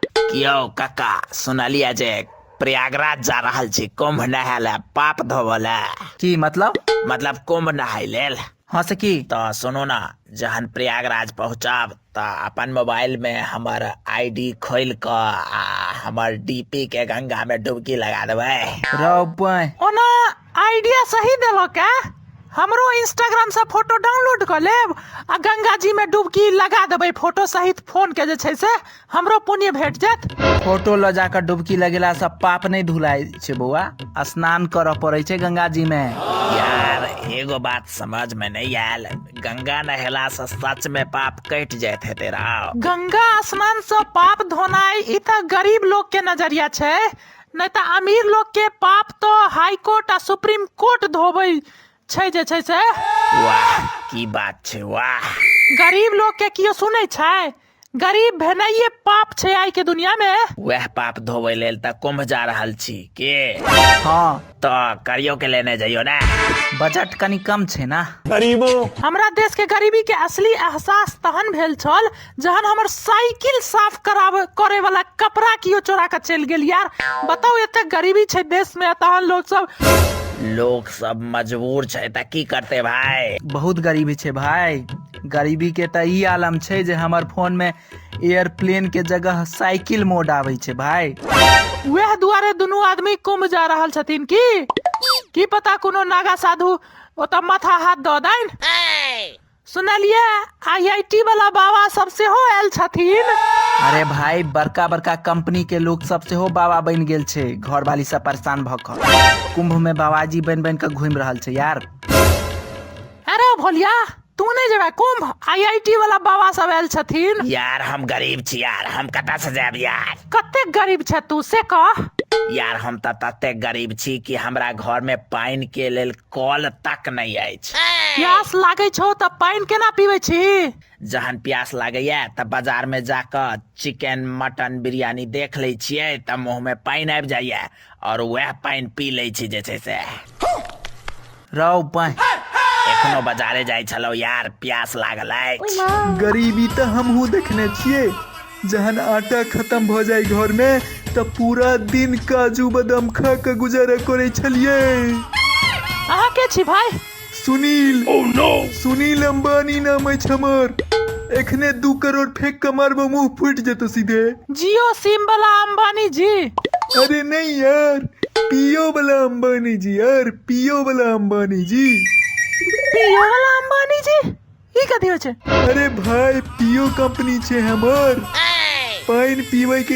कियौ कक्का सुनलियै जे प्रयागराज जा रहल छी कुम्भ नहाय लए पाप धोबऽ लए की मतलब मतलब कुम्भ नहाय लेल हँ से की तऽ सुनू ने जहन प्रयागराज पहुँचब तऽ अपन मोबाइलमे हमर आई डी खोलि कऽ आ हमर डी पी के गंगामे डुबकी लगा देबै रौ बंय ओना आइडिया सही देलक का हमरो इंस्टाग्राम से फोटो डाउनलोड कर लेब आ गंगा जी में डुबकी लगा देबै फोटो सहित फोन के जे छै से हमरो पुण्य भेट जायत फोटो लऽ जाकर डुबकी लगेला से पाप नहीं धुलाय छे बौआ स्नान करऽ पड़े छे गंगा जी में यार एगो बात समझ में नहीं आयल गंगा नहेला से सच में पाप कट जात है तेरा गंगा स्नान से पाप धोनाई ई त गरीब लोग के नजरिया छै नहि तऽ अमीर लोकके पाप तऽ हाई कोर्ट आ सुप्रीम कोर्ट धोबै छै जे छै से वाह की बात छै वाह गरीब लोकके केओ सुनै छै गरीब भेनाइए पाप छै आइके दुनियामे वएह पाप धोबै लेल तऽ कुम्भ जा रहल छी के हँ तऽ करियो के लेने जइयो ने बजट कनि कम छै ने हमरा देश के गरीबी के असली एहसास तहन भेल छल जहन हमर साइकिल साफ कराब करे वाला कपड़ा कियो चोरा के चलि गेल यार बताओ एते गरीबी छै देश में तहन लोग सब लोग सब मजबूर छै तऽ की करते भाय बहुत गरीबी छै भाय गरीबी के तऽ ई आलम छै जे हमर फोन में एयरप्लेन के जगह साइकिल मोड आबै छै भाई वएह दुआरे दुनू आदमी कुंभ जा रहल छथिन की की पता कोनो नागा साधु ओतऽ माथा हाथ दऽ दैन सुनलिए आईआईटी वाला बाबा सब सेहो आयल छथिन अरे भाई बड़का बड़का कंपनी के लोग सब सेहो बाबा बनि गेल छै घर वाली सब परेशान भऽ कऽ कुंभ में बाबाजी बनि बनि कऽ घूमि रहल छै यार अरे भोलिया तू नहीं जेबे कुंभ आईआईटी वाला बाबा सब आयल छथिन यार हम गरीब छी यार हम कतऽ से जायब यार कते गरीब छ तू से कह यार हम तऽ तते गरीब छी कि हमरा घर में पानि के लेल कल तक नहि अछि प्यास लागे छौ तऽ पानि केना पीबे छी जहन प्यास लागैया तऽ बाजार में जाकऽ चिकन मटन बिरियानी देख लै छियै तऽ मुंह में पानि आबि जाइया और वह पानि पी लै छी जे छै से रौ पानि एखनो बाजारे जाइ छलौ यार प्यास लागल अछि गरीबी तऽ हमहूँ देखने छियै जहन आटा खत्म भऽ जाय घर में तऽ पूरा दिन काजू बादाम खा कऽ गुजारा करै छलियै अहाँ के छी भाई सुनील सुनील अंबानी नाम अछि हमर एखने दू करोड़ फेंक के मारबो मुंह फूट जेतो सीधे जियो सिम वाला अंबानी जी अरे नहीं यार पियो वाला अंबानी जी यार पियो वाला अंबानी जी पियो वाला अंबानी जी ई कथी होय छै अरे भाई पियो कंपनी छे हमर पाइन पीवे के